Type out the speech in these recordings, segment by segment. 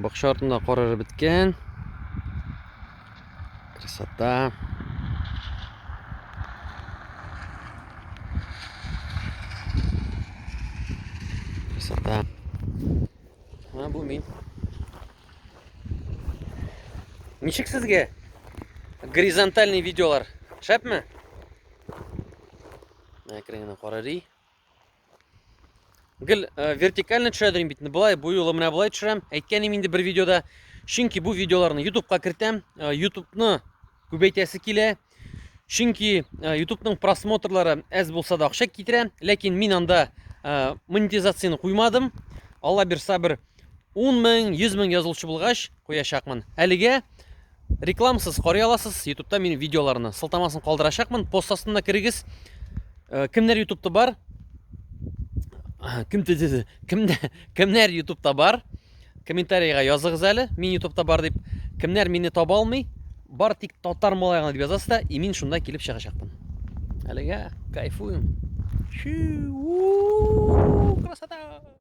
Бакча артында кар эреп беткән. Красота. Красота. Менә бу мин. Ничек сезгә горизонтальный видеолар? Шәпме? Әкрен генә карарый. гел э, вертикально төшә дим бит былай бу юлы менә былай төшерәм әйткән идем инде бер видеода чөнки бу видеоларны ютубка кертәм э, ютубны күбәйтәсе килә чөнки э, ютубның просмотрлары әз булса да акча китерә ләкин мин анда монетизацияны куймадым алла бирса бер 10 мең 100 мең язылучы булгач куячакмын. Әлегә рекламасыз карый аласыз. Ютубта минем видеоларны сылтамасын калдырачакмын. Пост астына керегез. Э, кемнәр Ютубта бар? Кем диде? Кемдә? Кемнәр Ютубта бар? Комментарийга языгыз әле. Мин Ютубта бар дип. Кемнәр мине таба алмый? Бар тик татар малай гына дип язасыз да, и мин шунда килеп чыгачакмын. Әлегә кайфуем. Чу! Красота!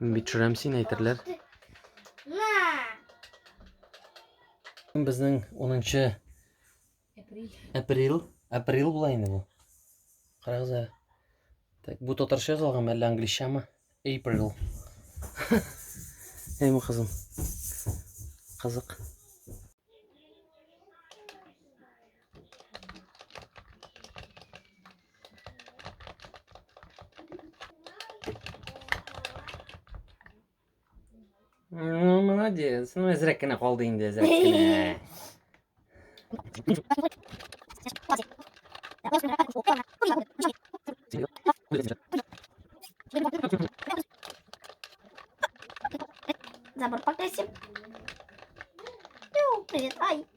Мин бит төшерәм син әйтерләр. Безнең 10 апрель. Апрель. Апрель була инде бу. Карагыз әле. Так, бу татарча язылганмы әллә англичамы? April. Әйме кызым. Кызык. Ну, молодец. Ну, әзрәк кенә калды инде, әзрәк кенә. Забор покрасим. Ну, привет, ай.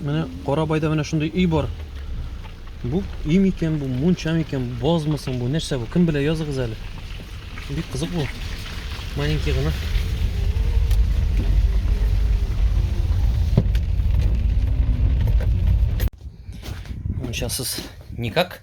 Менә Карабайда менә шундый өй бар. Бу өй микән, бу мунча микән, базмы соң бу, нәрсә бу? Кем белә, языгыз әле. Бик кызык бу. Маленький гына. Мунчасыз никак.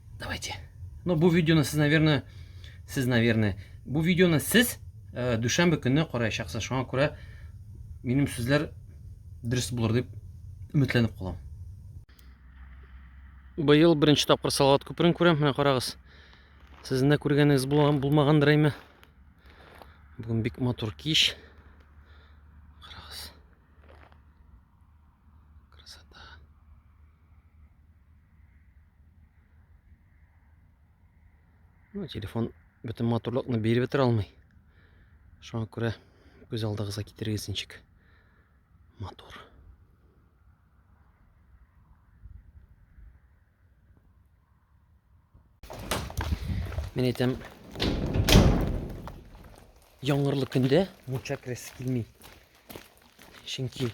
Давайте. Ну, бу видеоны сез, наверное, сез, наверное, бу видеоны сез э, дүшәмбе көнне караячаксыз. Шуңа күрә минем сүзләр дөрес булыр дип өметләнеп калам. Быел беренче тапкыр Салават күперен күрәм. Менә карагыз. Сезнең дә күргәнегез булган булмагандыр әйме. Бүген бик матур кич. Карагыз. Красота. Ну, телефон бөтен матурлыкны биреп бетерә алмый. Шуңа күрә күз алдыгызга китерегез ничек. Матур. Мен әйтәм, яңгырлы көндә мунча керәсе килми. Чөнки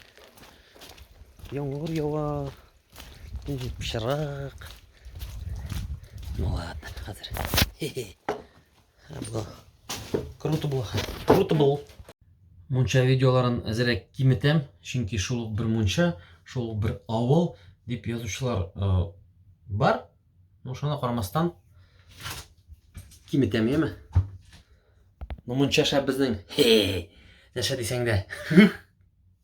яңгыр ява, Пычрак. Ну ладно, хәзер. Хе-хе. Було. Круто було. Круто було. Мунча видеоларын әзерәк киметәм, чөнки шул бер мунча, шул бер авыл дип язучылар э, бар. Ну шуна карамастан киметәм, яме. Ну мунча шәп безнең. Хе. Нәрсә дисәң дә.